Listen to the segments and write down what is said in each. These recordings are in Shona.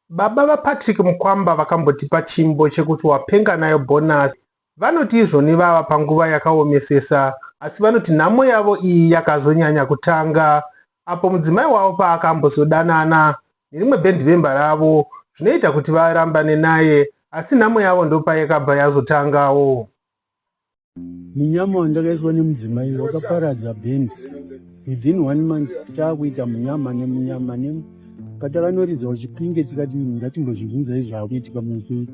Baba vaPatrick Mukwamba vakambotipa chimbo chekuti wapenga nayo bonus. Vanoti izvoni vava panguva yakaomesesa asi vanoti nhamo yavo iyi yakazonyanya kutanga apo mudzimai wavo paakambozodanana nerimwe bhendivemba ravo zvinoita kuti varambane naye asi nhamo yavo ndopayakabva yazotangawo. munyama wandakaiswa nemudzimai wakaparadza band within one month taakuita munyama nemunyama ne patakanoridza uchipinge tikati ngatimbozvibvunzai zvaakuitika mupe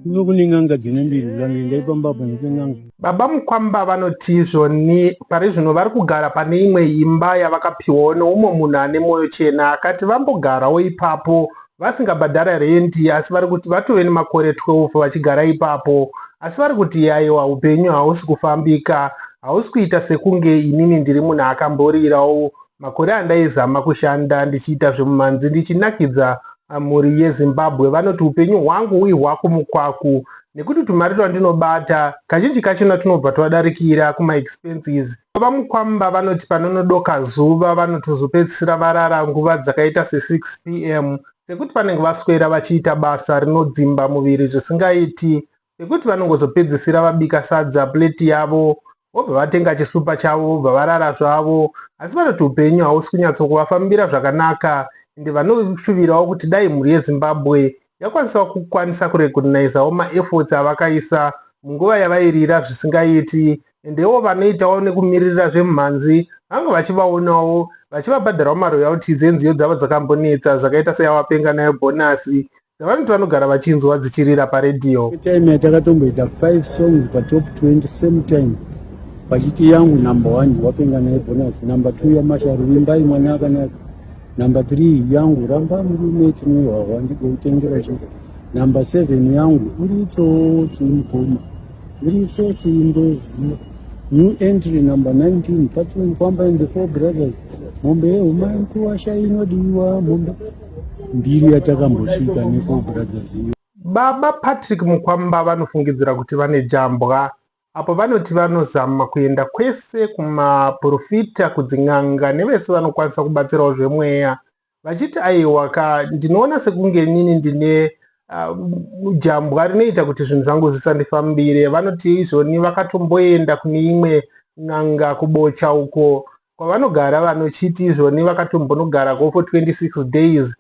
kuno kune n'anga dzine mbiri zvange ndaipambapo neke n'anga baba mukwamba vanoti izvoni pari zvino vari kugara pane imwe imba yavakapiwawo neumwe munhu ane mwoyo chena akati vambogarawo ipapo vasingabhadhara rendi asi vari kuti vatove nemakore 12 vachigara ipapo asi vari kuti yaiwa upenyu hausi kufambika hausi kuita sekunge inini ndiri munhu akamborirawo makore andaizama kushanda ndichiita zvemumhanzi ndichinakidza ah, mhuri yezimbabwe vanoti upenyu hwangu ihwaku mukwaku nekuti tumari twandinobata kazhinji kachona tunobva twadarikira kumaexpenses Baba Mukwamba vanoti panonodoka zuva vanotozopedzisira varara nguva dzakaita se6 pm sekuti vanenge vaswera vachiita basa rinodzimba muviri zvisingaiti sekuti vanongozopedzisira vabika sadza plate yavo vobva vatenga chisupa chavo vobva varara zvavo asi vanoti upenyu hausi kunyatsokuvafambira zvakanaka ende vanoshuvirawo kuti dai mhuri yezimbabwe yakwanisawo kukwanisa kurecognaizawo maefforts avakaisa munguva yavairira zvisingaiti endewo vanoitawo nekumiririra zvemhanzi vange vachivaonawo vachivabhadharawo maroyalties enziyo dzavo dzakambonetsa zvakaita seyawapenga nayo bhonasi dzavanoti vanogara vachinzwa dzichirira paredhiyo time yatakatomboita 5 songs patop 20 same time pachiti yangu number one wapenga nayo bhonasi number two yamasharu vimbai mwana akanaka Number 3 yangu ramba murume chinowawa ndikutengera zvinhu. Number 7 yangu uri tsotsi mukoma. Uri tsotsi ndoziva. New entry number 19 Patrick Kwamba and the four brothers. Mombe yehuma nkuwasha inodiwa mombe mbiri yatakambosvika ne four brothers iyo. Baba Patrick Mukwamba vanofungidzira kuti vane jambwa apo vanoti vanozama kuenda kwese kumaporofita, kudzin'anga nevese vanokwanisa kubatsirawo zvemweya vachiti aiwa ka ndinoona sekunge inini ndine uh, jambwa rinoita kuti zvinhu zvangu zvisandifambire. Vanoti izvoni vakatomboenda kune imwe n'anga kubocha uko kwavanogara vanochiti izvoni vakatombonogara ko for 26 days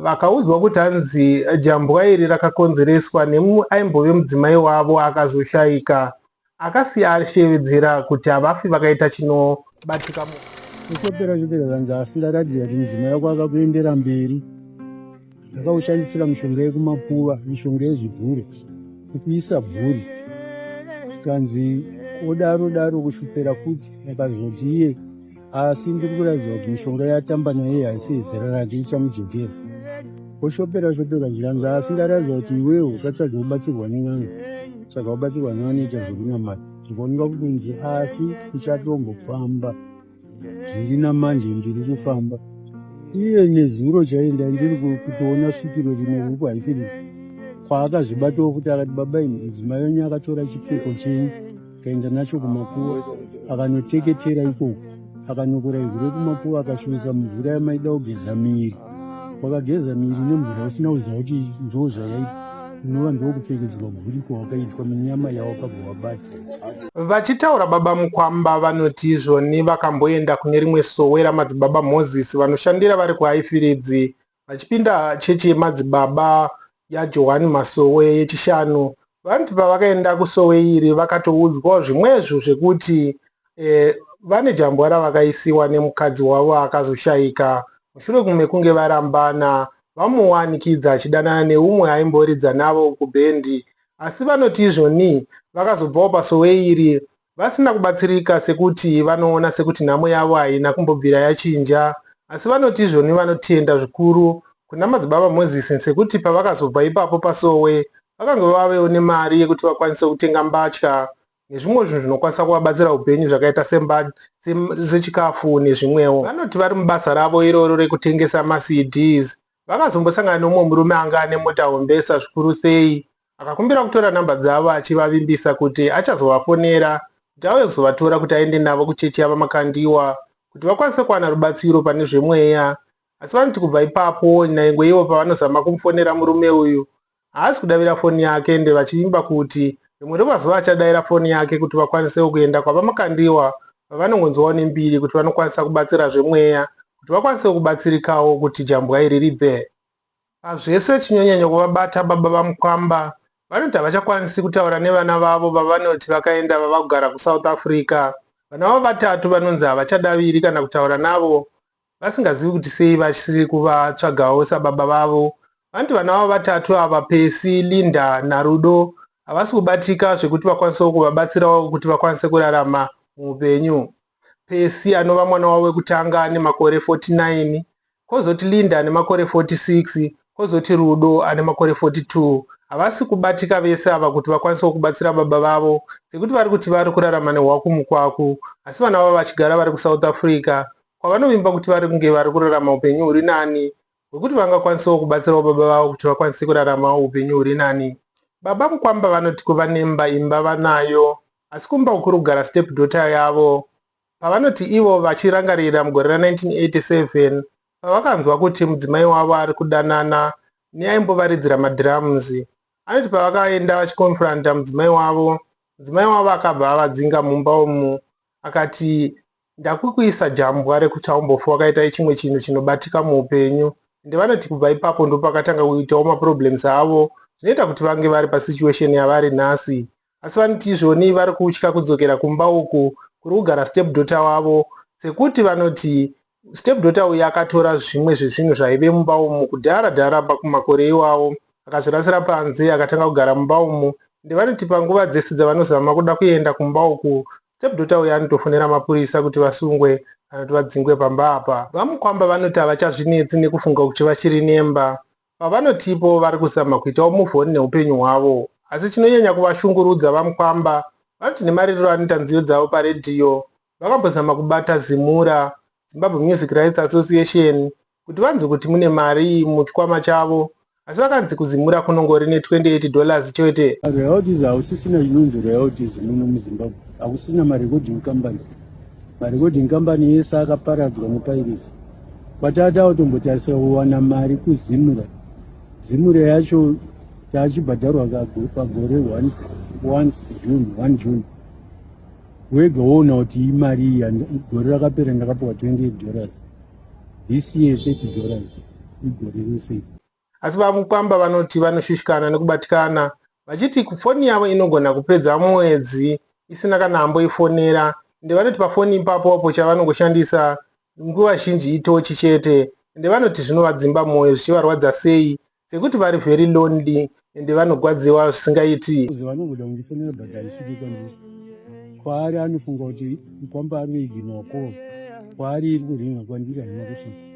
Vakaudzwa kuti hanzi jambwa iri rakakonzereswa nemumwe aimbove mudzimai wavo akazoshaika akasiya ashevedzera kuti havafi vakaita chinobatika mu Kushopera shopera zvanzi asi ndaratidza kuti mudzimai wako akakuendera mberi. Ndakakushandisira mishonga yekumakuva, mishonga yezvibvuri, kukuisa bvuri. Zvikanzi odaro daro kushopera futi akazoti iye asi ndiri kuraidzwa kuti mishonga yatamba naye iyi haisi zera rake ichamudzokera oshopera shopera zviranzi asi ndaraidzwa kuti iwewo usatsvage kubatsirwa nen'anga tsvaga kubatsirwa nevanoita zvekunamata ndikuoneka kukunzi asi uchatombofamba zviri namanje ndiri kufamba iye nezuro chaenda ndiri kutoona svikiro rimwe ruku haifiriti kwaakazvibatawo futi akati baba ini mudzimai wenyu akatora chipfeko chenyu akaenda nacho kumakuva akanoteketera ikoko akanokora ivhu rekumakuva akasvibisa mvura yamaida kugeza miri wakageza miri nemvura usina kuziva kuti ndoo zvayaita unova ndokupfekedzwa mvuriko wakaitwa munyama yawakabva wabata vachitaura baba mukwamba vanoti izvoni vakamboenda kune rimwe sowe ramadzibaba moses vanoshandira vari kuhaifiridzi Vachipinda chechi yemadzibaba yaJohani Masowe yeChishanu, vanoti pavakaenda kusowe iri vakatoudzwawo zvimwezvo zvekuti eh, vane jambwa ravakaisiwa nemukadzi wavo akazoshaika mushure mekunge varambana vamuwanikidza achidanana neumwe aimboridza navo kubhendi asi vanoti izvoni vakazobvawo pasowe iri vasina kubatsirika sekuti vanoona sekuti nhamo yavo haina kumbobvira yachinja asi vanoti izvoni vanotenda zvikuru kuna Madzibaba Moses sekuti pavakazobva ipapo paSowe vakange vavewo nemari yekuti vakwanise kutenga mbatya nezvimwe zvinhu zvinokwanisa kuvabatsira upenyu zvakaita sechikafu nezvimwewo. Vanoti vari mubasa ravo iroro rekutengesa maCDs vakazombosangana neumwe murume anga ane mota hombesa zvikuru sei Akakumbira kutora nhamba dzavo achivavimbisa kuti achazovafonera kuti auye kuzovatora kuti aende navo kuchechi yaVaMakandiwa kuti vakwanise kuwana rubatsiro pane zvemweya asi vanoti kubva ipapo nyange ivo pavanozama kumufonera murume uyu haasi kudavira foni yake ende vachivimba kuti rimwe remazuva achadaira foni yake kuti vakwanisewo kuenda kwaVaMakandiwa vavanongonzwawo nembiri kuti vanokwanisa kubatsira zvemweya kuti vakwanisewo kubatsirikawo kuti jambwa iri ribve Pazvese chinonyanya kuvabata baba vaMukwamba vanoti havachakwanisi kutaura nevana vavo vavanoti vakaenda vava kugara kuSouth Africa. Vana vavo vatatu vanonzi havachadaviri kana kutaura navo vasingazivi kuti sei vasiri kuvatsvagawo sababa vavo. Vanoti vana vavo vatatu ava, Percy, Linda naRudo, havasi kubatika zvekuti vakwanisewo kuvabatsirawo kuti vakwanise kurarama muupenyu. Percy anova mwana wavo wekutanga ane makore 49, kozoti Linda ane makore 46, kozoti Rudo ane makore 42. Havasi kubatika vese ava kuti vakwanisewo kubatsira baba vavo sekuti vari kuti vari kurarama nehwaku mukwaku asi vana vavo vachigara vari kuSouth Africa kwavanovimba kuti vari kunge vari kurarama upenyu huri nani hwekuti vangakwanisawo kubatsirawo baba vavo kuti vakwanise kuraramawo upenyu huri nani. Baba Mukwamba vanoti kuva nemba imba vanayo asi kumba uku kuri kugara step daughter yavo pavanoti ivo vachirangarira mugore ra 1987 pavakanzwa kuti mudzimai wavo ari kudanana neaimbovaridzira madrums. Anoti pavakaenda vachikonfronta mudzimai wavo, mudzimai wavo akabva avadzinga mumba umu akati Ndakukuisa jambwa rekuchaumbofu wakaita chimwe chinhu chinobatika muupenyu ende vanoti kubva ipapo ndopakatanga kuitawo maproblems avo zvinoita kuti vange vari pasituation yavari nhasi asi vanoti izvoni vari kutya kudzokera kumba uku kuri kugara stepdaughter wavo sekuti vanoti stepdaughter uyu akatora zvimwe zvezvinhu zvaive mumba umu kudhara dhara pakumakore iwawo akazvirasira panze akatanga kugara mumba umu ende vanoti panguva dzese dzavanozama kuda kuenda kumba uku Stepdaughter uyu anotofonera mapurisa kuti vasungwe kana kuti vadzingwe pamba apa. VaMukwamba vanoti havachazvinetsi nekufunga kuti vachiri nemba. Pavanoti ipowo vari kuzama kuitawo move on neupenyu hwavo. Asi chinonyanya kuvashungurudza VaMukwamba vanoti nemaririro anoita nziyo dzavo paredhiyo, vakambozama kubata Zimura, Zimbabwe Music Rights Association, kuti vanzwe kuti mune mari muchikwama chavo asi vakanzi kuZimura kunongori ne 28 dollars chete. Royalties hausisina chinonzi royalties muno muZimbabwe hakusina marecording company marecording company yese akaparadzwa nepairisi kwatatawo tombotarisa kuwana mari kuZimura Zimura yacho taachibhadharwa pagore 1 once June 1 June wega woona kuti imari iyi gore rakapera ndakapiwa 28 dollars this year 30 dollars igore rese asi vamukwamba vanoti vanoshushikana nekubatikana vachiti foni yavo inogona kupedza mwedzi isina kana amboifonera ende vanoti pafoni ipapo apo chavanongoshandisa nguva zhinji itochi chete ende vanoti zvinovadzimba mwoyo zvichivarwadza sei sekuti vari very lonely ende vanogwadziwa zvisingaiti vanongoda kundifonera but haisviki kwandiri kwaari anofunga kuti kwamba anoiginwa ko kwaari iri kuringa kwandiri haina kusvika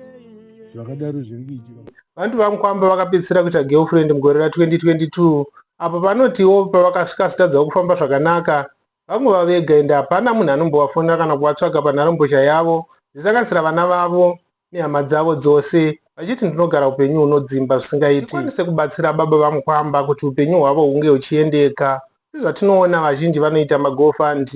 zvakadaro zviri kuitika vantu vamukwamba vakapedzisira kuita girlfriend mugore ra 2022 apo vanotiwo pavakasvika sitadzawo kufamba zvakanaka Vangova vega ende hapana munhu anombovafonera kana kuvatsvaga panharembozha yavo. Ndisanganisira vana vavo nehama dzavo dzose vachiti ndinogara upenyu hunodzimba zvisingaiti. Ndikwanise kubatsira baba vaMukwamba kuti upenyu hwavo hunge huchiendeka. Sezvatinoona vazhinji vanoita magofund,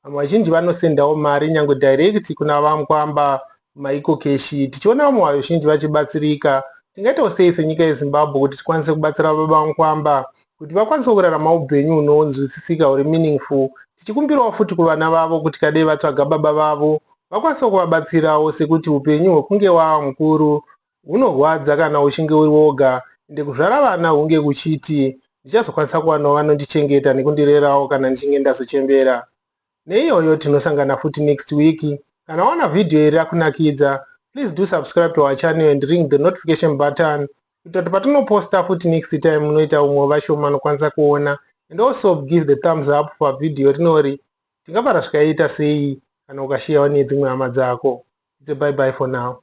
vamwe vazhinji vanosendawo mari nyangwe direct kuna VaMukwamba Maiko Keshi, tichiona vamwe vazhinji vachibatsirika, tingaitawo sei senyika yeZimbabwe kuti tikwanise kubatsira baba vankwamba kuti vakwanise kurarama upenyu hunonzwisisika huri meaningful tichikumbirawo futi kuvana vavo kuti kadei vatsvaga baba vavo vakwanise kuvabatsirawo sekuti upenyu hwekunge wava mukuru hunorwadza kana uchinge uri woga ende kuzvara vana hunge kuchiti ndichazokwanisa kuwanawo vanondichengeta nekundirerawo kana ndichinge ndazochembera Neiyoyo tinosangana futi next week. Kana waona video iri rakunakidza, please do subscribe to our channel and ring the notification button kuita kuti patinoposta futi next time munoita umwe vashoma anokwanisa kuona and also give the thumbs up for video rinori tingava rasvikaita sei kana ukashiyawo nedzimwe hama dzako. It's a bye bye for now.